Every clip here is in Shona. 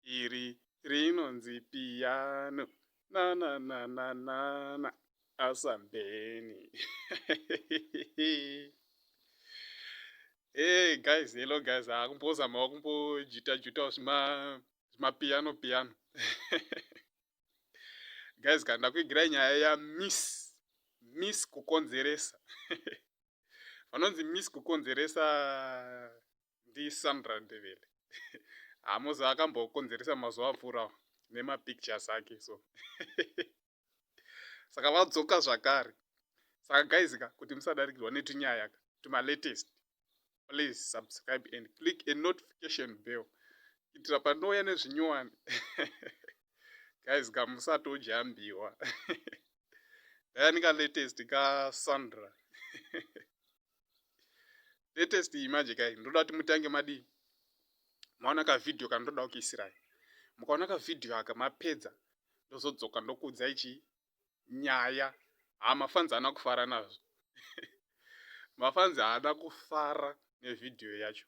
iri rinonzi piano nananananana asa bheni hey guys hello guys akumbozamawo ah, kumbojita jutawo zvima zvimapiano piano guys kana ndakuigirai nyaya ya miss miss kukonzeresa vanonzi miss kukonzeresa ndiSandra Ndebele Hamoza akambokonzeresa mazuva apfuura nemapictures ake so saka vadzoka zvakare saka guys ka kuti musadarikirwa netunyaya ka tumalatest please subscribe and click a notification bell kuitira panouya nezvinyowani guys ka musatodyaambiwa dayani ka latest ka sandra latest iyi manje kai ndoda kuti mutange madii maona kavidhiyo kana ndoda kukiisirai mukaona kavidhiyo aka mapedza ndozodzoka ndokuudzai chi nyaya haa mafanzi haana kufara nazvo mafanzi haana kufara nevidhiyo yacho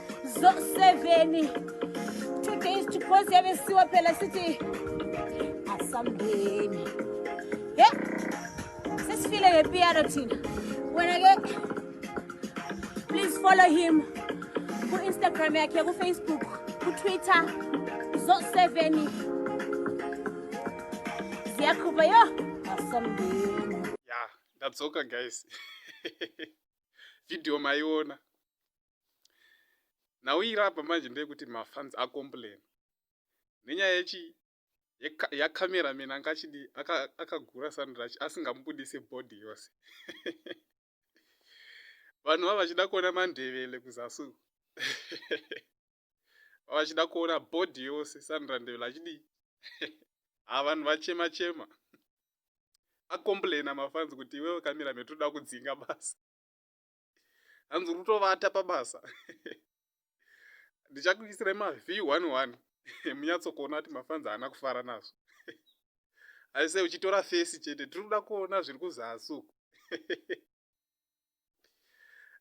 zo 7 two days to close yave siwa phela sithi asambeni he sesifile ngepiyano thina wena ke please follow him ku-instagram yakhe kufacebook kutwitter zo 7 ziyakhupha yo asambeni ya ndadzoka guys video maiona nhau iri apa manje ndeyekuti mafans acomplain nenyaya yechi yacameraman anga achidi akagura aka sandrach asingamubudise body yose vanhu va vachida kuona mandevele kuzasu vachida kuona body yose sandra ndevele achidi ha vanhu vachema chema acomplaina mafans kuti iwewe cameraman toda kudzinga basa hanzi uri kutovata pabasa ndichakuisirai maview one one munyatsokuona kuti mafanzi haana kufara nazvo aise uchitora fesi chete tiri kuda kuona zviri kuzasi uku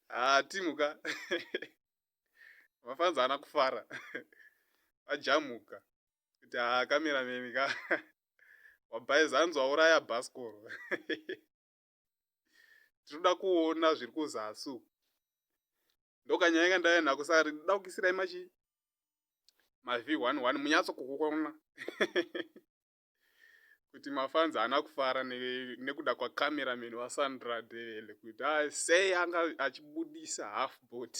haa ah, timuka mafanzi haana kufara vajamuka kuti haa ah, kamerameni ka wabhaiza hanzi wauraya bhasikoro tinoda kuona zviri kuzasi uku ndokanyaya kandaiya nako saka ndinoda kukisirai machi mav one one munyatso kukukona kuti mafanzi haana kufara nekuda kwacameraman wasandra devele kuti sei anga achibudisa half bot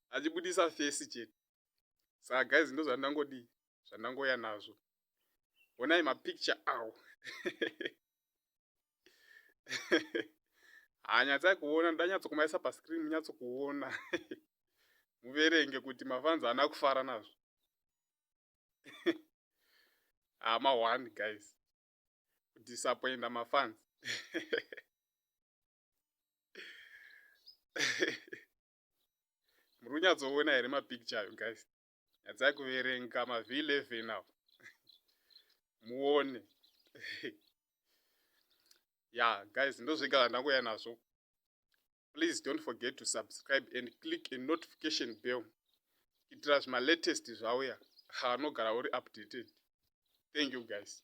achibudisa fesi chete saka guys ndo zvandangodii zvandangoya nazvo honai mapicture awo hanyatsai kuona ndanyatsokumaisa pascreen munyatsokuona muverenge kuti mafanzi ana kufara nazvo hama ah, one guys kudisappointa mafanzi muri kunyatsoona here mapicture ayo guys nyadzai kuverenga mav 11 awo muone ya guys ndozvega zvandangoya nazvo please don't forget to subscribe and click a notification bell kuitira zvimalatest zvauya haanogara uri updated thank you guys